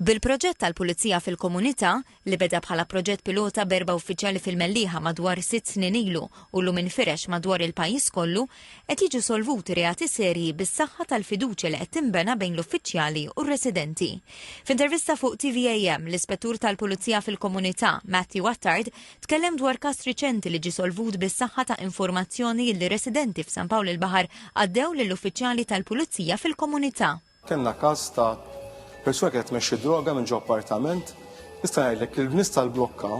Bil-proġett tal-Pulizija fil-Komunità, li beda bħala proġett pilota b'erba' uffiċjali fil-Mellieħa madwar sitt snin ilu u llum infirex madwar il-pajjiż kollu, qed jiġu solvuti reati serji bis-saħħa tal-fiduċja li qed tinbena bejn l-uffiċjali u r-residenti. F'intervista fuq TVAM, l-Ispettur tal-Pulizija fil-Komunità, Matthew Attard, tkellem dwar każ riċenti li ġie solvut bis-saħħa ta' informazzjoni li residenti f'San Pawl il-Baħar għaddew lill-uffiċjali tal-Pulizija fil-Komunità. Kellna każ ta' persuna kienet tmexxi droga minn ġo appartament, nista' ngħidlek li l-nies tal-blokka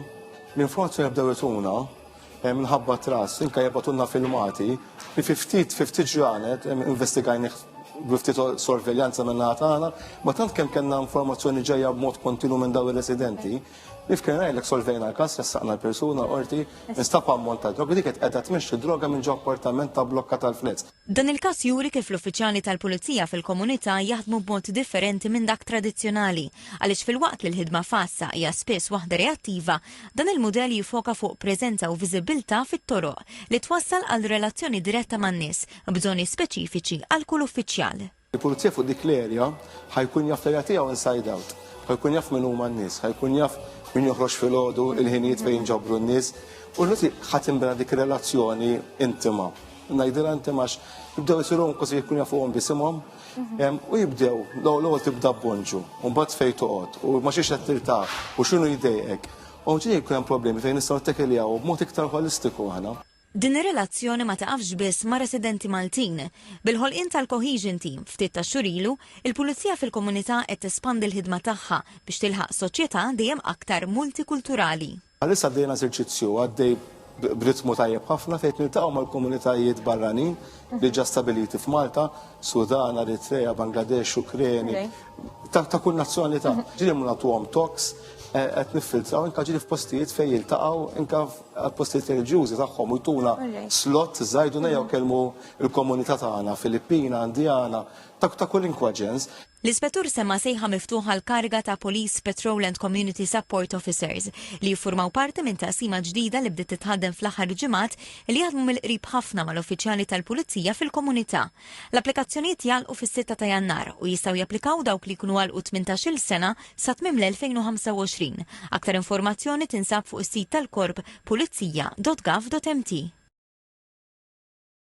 l-informazzjoni bdew ituna eh, minħabba tras, inka jibgħatulna filmati li fi ftit fi ftit ġranet eh, investigajnih biftit sorveljanza minna tagħna, ma tant kemm kellna informazzjoni ġejja b'mod kontinu minn daw ir-residenti, li fkien għajlek solvejna l-kas, jassaqna l-persuna orti, nistapa ammont ta' droga, dik qed qegħda tmexxi droga minn ġo appartament ta' blokka tal-flets. Dan il-każ juri kif l-uffiċjali tal-pulizija fil-komunità jaħdmu b'mod differenti minn dak tradizzjonali, għaliex filwaqt li l-ħidma f'għassa hija spiss waħda reattiva, dan il-mudell jiffoka fuq preżenza u viżibbiltà fit-toroq, li twassal għal relazzjoni diretta man-nies, b'bżonni speċifiċi għal kull uffiċjal. Il-pulizija fuq dik l-erja ħa jkun jaf l-erja tiegħu inside out. Ħa jkun jaf min huma n-nies, ħa jkun jaf min joħroġ filgħodu, il-ħinijiet fejn jinġabru n-nies. U l-noti ħa tinbena dik ir-relazzjoni intima. Ngħidilha inti għax jibdew isiru kważi jkun jafuhom bisimhom mhm. u jibdew l-ewwel tibda bonġu, u mbagħad fejn toqgħod u ma xiex qed tirtaħ u x'inhu jdejqek. U ġej jkun hemm problemi fejn nistgħu nittekeljaw b'mod iktar holistiku aħna. Din ir-relazzjoni ma tiqafx biss ma' residenti Maltin. Bil-ħolqien tal-Cohesion Team ftit tax-xhur ilu, il-Pulizija fil-Komunità qed tespandi l-ħidma tagħha biex tilħaq soċjetà dejjem aktar multikulturali. Bħalissa bdejna eżerċizzju għaddej b'ritmu tajjeb ħafna fejn qed niltaqgħu mal-komunitajiet barranin diġà stabiliti f'Malta, Sudan, Eritrea, Bangladesh, Ukreni, ta' kull nazzjonalità. Ġieli mhux nagħtuhom talks, qed niffiltraw anke ġieli f'postijiet fejn jiltaqgħu anke għal-postijiet reliġjużi tagħhom u jtuna slot żajduna jew kelmu l-komunità tagħna Filippina, Indjana, ta' kulinkwa ġens. L-Ispettur semma' sejħa miftuħa għall-kariga ta' Police Patrol and Community Support Officers li jiffurmaw parti minn taqsima ġdida li bdiet titħaddem fl-aħħar ġimgħat li jaħdmu mill-qrib ħafna mal-uffiċjali tal-pulizija fil-komunità. L-applikazzjonijiet jagħlqu fis-sitta ta' Jannar u jistgħu japplikaw dawk li jkunu għalqu tmintax-il sena Sa tmiem l-2025, aktar informazzjoni tinsab fuq is-sit tal-Korp, pulizija.gov.mt.